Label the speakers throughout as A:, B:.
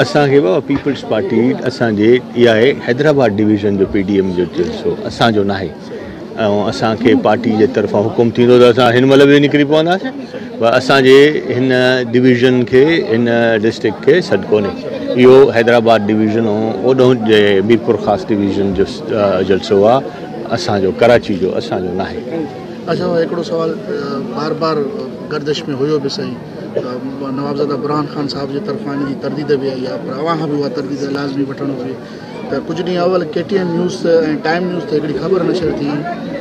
A: اسان کي بابا پيپلز پارٽي اسان جي اها آهي حيدرآباد ڊويزن جو پي ڊي ايم جو جلسو اسان جو ناهي ۽ اسان کي پارٽي جي طرفان حڪم ٿيندو ته اسان هن مهل به نڪري پونداسين پر اسان جي هن ڊويزن کي هن ڊسٽرڪٽ کي سڏ ڪونهي اهو حيدرآباد ڊويزن ۽ اوڏهون جي ميرپور خاص ڊويزن جو جلسو آهي اسان جو ڪراچي جو اسان جو ناهي اچا هڪڙو
B: سوال بار بار گردش ۾ هيو به سائين ته نوابزاده برهان خان صاحب جي طرفان ان جي ترديد به آئي آهي پر اوهان کان به اها ترديد لازمي وٺڻ گهرجي ته ڪجهه ڏينهن اول K T N news ۽ time news تي هڪڙي خبر نشر ٿي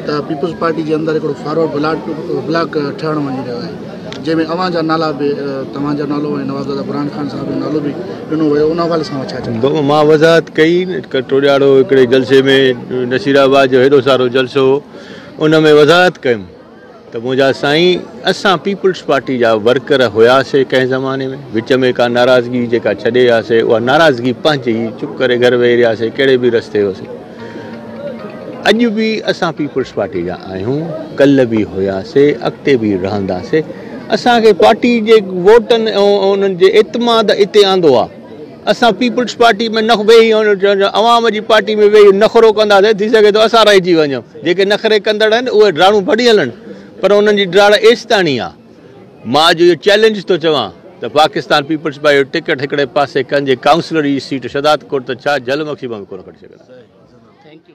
B: ته پيپلز پارٽي جي اندر هڪڙو فارورڊ بلاڪ بلاڪ ٺهڻ وڃي رهيو آهي جنهن ۾ اوهان جا نالا به توهان جا نالو ۽ نوابزاده برهان خان صاحب جو نالو به ڏنو ويو ان حوالي سان ڇا چئبو مان وضاحت ڪئي
A: ٽوڏياڙو هڪڙي جلسي ۾ نصير آباد جو هيڏو سارو جلسو هو ان ۾ وضاحت ڪيم ته منهنجا سائين اسان پيپلز پارٽي جا ورڪر هياسي ڪنهن زماني ۾ وچ ۾ ڪا ناراضگي جيڪا ڇڏي هياسي اها ناراضگي پنهنجي ئي چپ ڪري گهر ويهي رهياسي ڪهڙي به رستي هياسي اڄ به اسان پيپلز پارٽي جا آهيون ڪل به هياسي اڳتي به رهنداسي اسان کي پارٽي جي ووٽن ۽ انهن جي اعتماد اتي آندو آهي اسان پيپلز پارٽي ۾ نه ويهي عوام جي پارٽي ۾ ويهي نخرو ڪنداسين ٿي سگهي ٿو اسان رهجي وڃون جيڪي نخري ڪندڙ آهن اهي ڊراڙون ڀڙي هلن پر انهن جي ڊراڙ ايستاڻي آهي مان اڄ اهو چئلينج ٿو چوان ته پاڪستان پيپلز پارٽي جو ٽڪيٽ هڪڙي پاسي ڪنهن جي ڪائونسلر جي سيٽ شهدادڪوٽ ته ڇا جهل مکي مان به ڪونه کٽي سگهندا